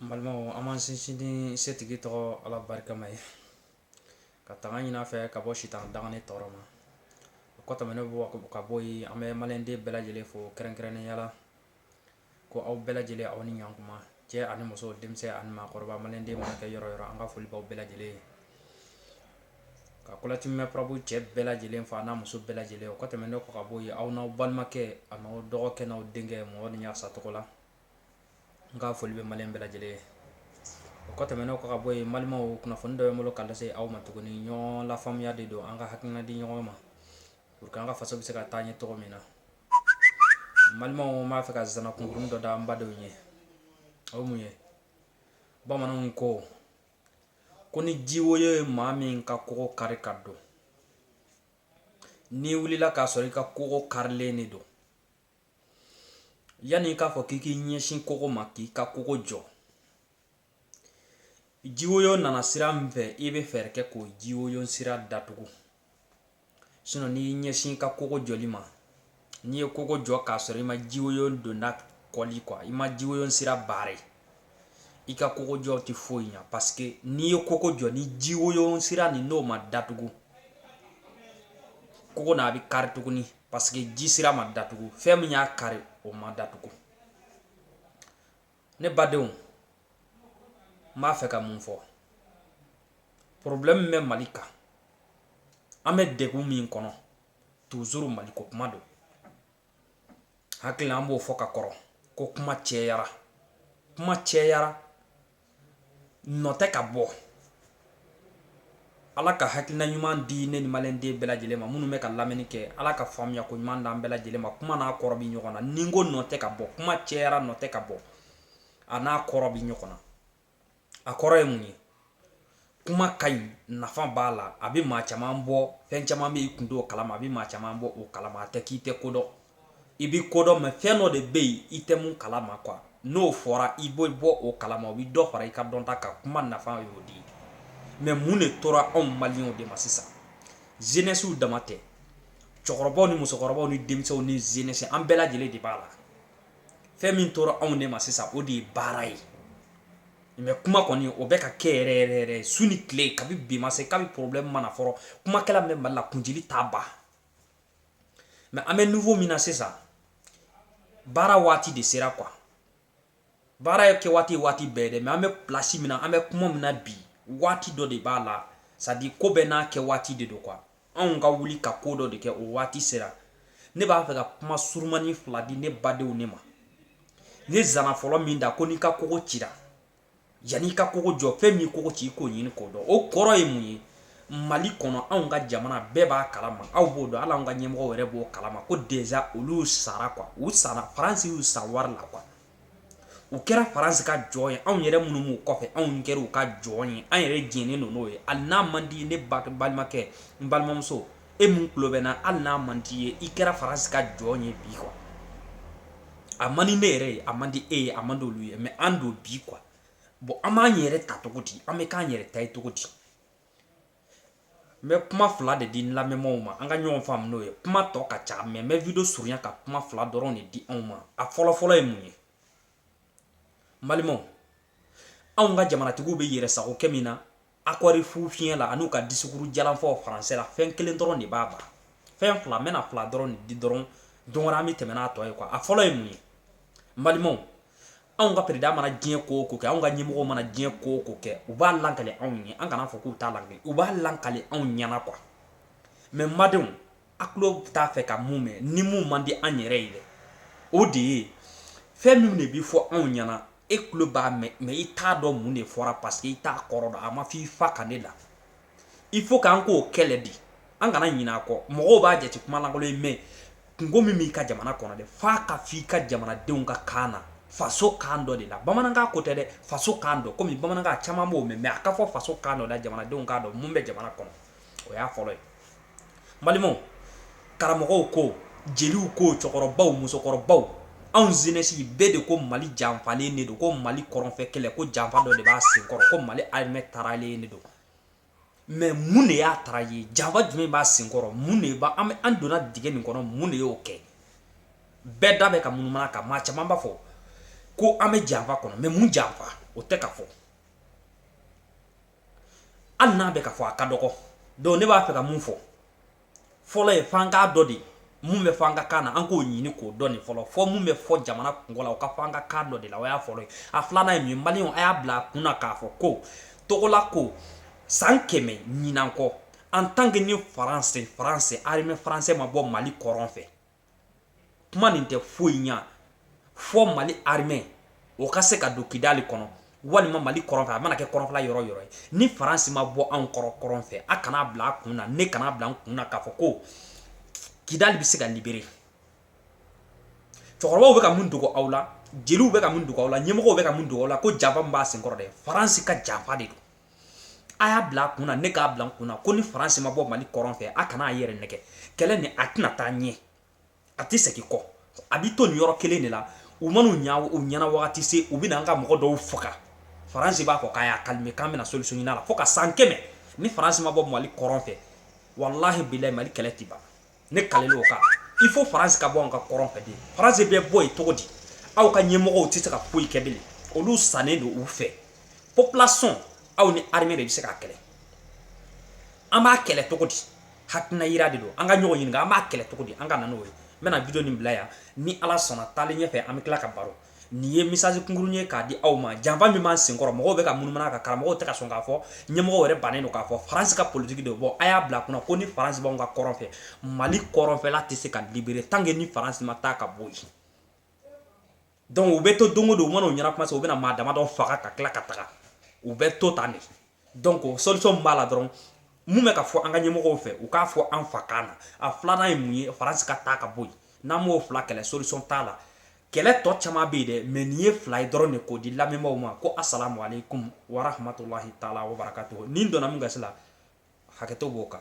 N balimaw an b'an sinsin ni setigi tɔgɔ ala barikama ye ka tanga ɲin'a fɛ ka bɔ sitan danganen tɔɔrɔ ma o kɔ tɛmɛnen kɔ ka bɔ yen an bɛ maliyɛnden bɛɛ lajɛlen fo kɛrɛnkɛrɛnnenya la ko aw bɛɛ lajɛlen aw ni ɲankuma cɛ ani muso denmisɛn ani maakɔrɔba maliden mana kɛ yɔrɔ o yɔrɔ an ka foli b'aw bɛɛ lajɛlen ye ka kɔlɔtimɛ pbu cɛ bɛɛ lajɛlen fo a n'a muso bɛɛ lajɛlen o kɔ tɛmɛnen kɔ ka bɔ yen aw n'aw balimakɛ aw dɔgɔkɛ n'aw denkɛ mamadu ɲasa tɔgɔ la n ka foli bɛ maliyɛn bɛɛ lajɛlen ye o kɔ tɛmɛnen kɔ ka bɔ yen balimaw kunnafoni dɔ bɛ n bolo ka lase aw ma tuguni ɲɔgɔn lafaamuya de don an ka hakilina di ɲɔgɔn ma pour que an ka faso bɛ se ka taa ɲɛ cogo min na balimaw n b'a fɛ ka zana kunkurunin dɔ da an badenw ye o mun ye bamananw ko ko ni jiwo ye maa min ka kogo kari ka don n'i wulila k'a sɔrɔ i ka kogo karilen de don yanni i k'a fɔ k'i k'i ɲɛsin kogo ma k'i ka kogo jɔ jiwoyo nana sira min fɛ i bɛ fɛɛrɛ kɛ k'o jiwoyo sira datugu sinɔn n'i ɲɛsin i ka kogo jɔli ma n'i ye kogo jɔ k'a sɔrɔ i ma jiwoyo donda kɔli kuwa i ma jiwoyo sira baare i ka kogo jɔ tɛ foyi ɲa paseke n'i ye kogo jɔ ni jiwoyo sira nin n'o ma datugu kogo na a bɛ kari tuguni paseke ji sira ma datugu fɛn min y'a kari o ma datugu ne badenw n b'a fɛ ka mun fɔ problème bɛ mali kan an bɛ degun min kɔnɔ toujours maliko kuma don n hakili la an b'o fɔ ka kɔrɔ ko kuma cɛyara kuma cɛyara nɔ tɛ ka bɔ ala ka hakilina ɲuman di ne ni maliyɛnden bɛɛ lajɛlen ma minnu bɛ ka lamɛnni kɛ ala ka faamuya ko ɲuman d'an bɛɛ lajɛlen ma kuma n'a kɔrɔ bi ɲɔgɔn na ni n ko nɔ tɛ ka bɔ kuma cɛyara nɔ tɛ ka bɔ a n'a kɔrɔ bi ɲɔgɔn na a kɔrɔ ye mun ye kuma ka ɲi nafa b'a la a bɛ maa caman bɔ fɛn caman bɛ i kun t'o kalama a bɛ maa caman bɔ o kalama a tɛ k'i tɛ ko dɔn i bɛ ko dɔn mɛ fɛn dɔ de bɛ yen i tɛ min kalama kuwa n'o fɔra i bɛ bɔ o kalama o bɛ dɔ fara i ka dɔnta kan kuma nafa y'o de ye mɛ mun de tora anw maliyɛnw de ma sisan jeunesse dama tɛ cɛkɔrɔbaw ni musokɔrɔbaw ni denmisɛnw ni jeunesse an bɛɛ lajɛlen de b'a la fɛn min tora anw de ma sisan o de ye baara ye mɛ kuma kɔni o bɛ ka kɛ yɛrɛ yɛrɛ yɛrɛ su ni tile kabi bi ma se kabi problème ma na fɔlɔ kumakɛla min bɛ mali la kunji t'a ba mɛ an bɛ nivo min na sisan baara waati de sera kuwa baara ye kɛ waati waati bɛɛ dɛ mɛ an bɛ plasi min na an bɛ kuma min na bi waati dɔ de b'a la sadi ko bɛɛ n'a kɛ waati de don kuwa anw ka wuli ka ko dɔ de kɛ o waati sera ne b'a fɛ ka kuma surumani fila di ne badenw ne ma ne zana fɔlɔ min da ko n'i ka kogo cira Yan'i ka kogo jɔ fɛn min kogo ci i k'o ɲini k'o dɔn o kɔrɔ ye mun ye mali kɔnɔ anw ka jamana bɛɛ b'a kalama aw b'o dɔn hali anw ka ɲɛmɔgɔw yɛrɛ b'o kalama ko deja olu sara kuwa u sara faransi y'u san wari la kuwa u kɛra faransi ka jɔn ye anw yɛrɛ minnu b'u kɔfɛ anw kɛra u ka jɔn ye an yɛrɛ jɛnnen don n'o ye hali n'a man di ne balimakɛ n balimamuso e min tulo bɛ n na hali n'a man di i ye i kɛra faransi ka jɔn ye bi kuwa a man di ne yɛrɛ ye a man di e ye a man di olu ye mɛ an don bi kuwa bɔn an b'an yɛrɛ ta cogo di an bɛ k'an yɛrɛ ta ye cogo di n bɛ kuma fila de di n lamɛnbaaw ma an ka ɲɔgɔn faamu n'o ye kuma tɔ ka ca mɛ n bɛ video surunya ka kuma fila dɔrɔn de di anw ma a fɔlɔfɔlɔ ye mun ye n balimaw anw ka jamanatigiw bɛ yɛrɛ sago kɛ min na Akɔri fu fiɲɛ la an'u ka disikuru jalanfɔ faransɛ la fɛn kelen dɔrɔn de b'a ban fɛn fila n bɛna fila dɔrɔn di dɔrɔn don wɛrɛ an bɛ tɛmɛ n'a tɔ ye kuwa a fɔlɔ ye mun ye balimaw anw ka peresidan mana diɲɛ ko o ko kɛ anw ka ɲɛmɔgɔw mana diɲɛ ko o ko kɛ u b'a lakale anw ye an kana fɔ k'u t'a lakale u b'a lakale anw ɲɛna kuwa mɛ n badenw a tulo t'a fɛ ka mun mɛn ni minnu man di an yɛrɛ ye dɛ o de ye fɛn min de bɛ fɔ anw ɲɛna e tulo b'a mɛn mɛ i t'a dɔn mun de fɔra paseke i t'a kɔrɔ dɔn a ma fɔ i fa kan ne la i fo k'an k'o kɛlɛ de an kana ɲina a kɔ mɔgɔw b'a jate kuma lankolon ye mɛ kungo min b'i ka jamana kɔnɔ dɛ f'a ka fɔ i ka jamanadenw ka kan na faso kan dɔ de la bamanankan ko tɛ dɛ faso kan dɔ kɔmi bamanankan caman b'o mɛn mɛ a ka fɔ faso kan dɔ la jamanadenw k'a dɔn mun bɛ jamana kɔnɔ o y'a fɔlɔ ye balimaw karamɔgɔw ko jeliw ko cɛkɔrɔbaw musokɔrɔbaw anw zenɛsi bɛɛ de ko mali janfalen de don ko mali kɔrɔnfɛ kɛlɛ ko janfa dɔ de b'a senkɔrɔ ko mali arimɛ taralen de don mɛ mun de y'a tara ye janfa jumɛn b'a senkɔrɔ mun de b'a an donna dingɛ nin kɔnɔ mun de y'o kɛ bɛɛ da bɛ ka munumunu kan maa caman b'a fɔ ko an bɛ janfa kɔnɔ mɛ mun janfa o tɛ ka fɔ hali n'a bɛ ka fɔ a ka dɔgɔ dɔnku ne b'a fɛ ka mun fɔ fɔlɔ ye f'an k'a dɔn de mun bɛ fɔ an ka kan na an k'o ɲini k'o dɔn nin fɔlɔ fɔ min bɛ fɔ jamana kungo la o ka fɔ an ka kan dɔ de la o y'a fɔlɔ ye a filanan ye min ye maliyɛnw a y'a bila a kun na k'a fɔ ko togola ko san kɛmɛ ɲinan kɔ an tan ke ni faransi faransɛ arimɛ faransɛ ma bɔ mali kɔrɔn fɛ kuma nin tɛ foyi ɲɛ fo mali armée o ka se ka don kidali kɔnɔ walima mali kɔrɔn fɛ a mana kɛ kɔrɔnfɛla yɔrɔ yɔrɔ ye ni faransi ma bɔ anw kɔrɔ kɔrɔn fɛ a kana bila a kun na ne kana bila n kun na k'a fɔ ko kidali bɛ se ka libere cɛkɔrɔbaw bɛ ka mun dogo aw la jeliw bɛ ka mun dogo aw la ɲɛmɔgɔw bɛ ka mun dogo aw la ko janfa b'a senkɔrɔ dɛ faransi ka janfa de don a y'a bila a kun na ne k'a bila n kun na ko ni faransi ma bɔ mali kɔrɔn fɛ a kana a yɛrɛ nɛgɛn kɛlɛ nin a tɛna taa ɲɛ a tɛ segin kɔ a bɛ to nin yɔrɔ kelen de la u man'u ɲɛna waati se u bɛna an ka mɔgɔ dɔw faga faransi b'a fɔ k'a y'a calmer k'an bɛna solution ɲini a la fo ka san kɛmɛ ni faransi ma bɔ mali kɔrɔn fɛ walahi bilahi mali kɛlɛ tɛ ban ne kalelen o kan il faut faransi ka bɔ an ka kɔrɔn fɛ de faransi bɛ bɔ yen cogo di aw ka ɲɛmɔgɔw tɛ se ka foyi kɛ bilen olu sannen don u fɛ population aw ni armée de bɛ se k'a kɛlɛ an b'a kɛlɛ cogo di hakilina yira de don an ka ɲɔgɔn ɲininka an b'a kɛlɛ cogo di an ka na n'o ye n bɛna video nin bila yan ni ala sɔnna taalen ɲɛfɛ an bɛ tila ka baro nin ye message kunkurun ye k'a di aw ma janfa min b'a senkɔrɔ mɔgɔw bɛ ka munumunu ka karamɔgɔw tɛ ka sɔn k'a fɔ ɲɛmɔgɔw yɛrɛ bannen don k'a fɔ faransi ka politiki de bɔ a y'a bila kunna ko ni faransi b'anw ka kɔrɔn fɛ mali kɔrɔnfɛla tɛ se ka libere tant que ni faransi ma taa ka bɔ yen donc u bɛ to don o don u man'u ɲɛna kuma se u bɛna maa damadɔ faga ka tila ka taga u bɛ to tan de donc solution min b'a la dɔrɔn mun bɛ ka fɔ an ka ɲɛmɔgɔw fɛ u k'a fɔ an fa kan na a filanan ye mun ye faransi ka taa ka bɔ yen n'an m'o fila kɛlɛ solution t'a la kɛlɛ tɔ caman bɛ yen dɛ mais nin ye fila ye dɔrɔn de k'o di lamɛnbaaw ma ko asalamu aleykum warahmatulahi taala wabarakatuhu nin donna min gasi la hakɛto b'o kan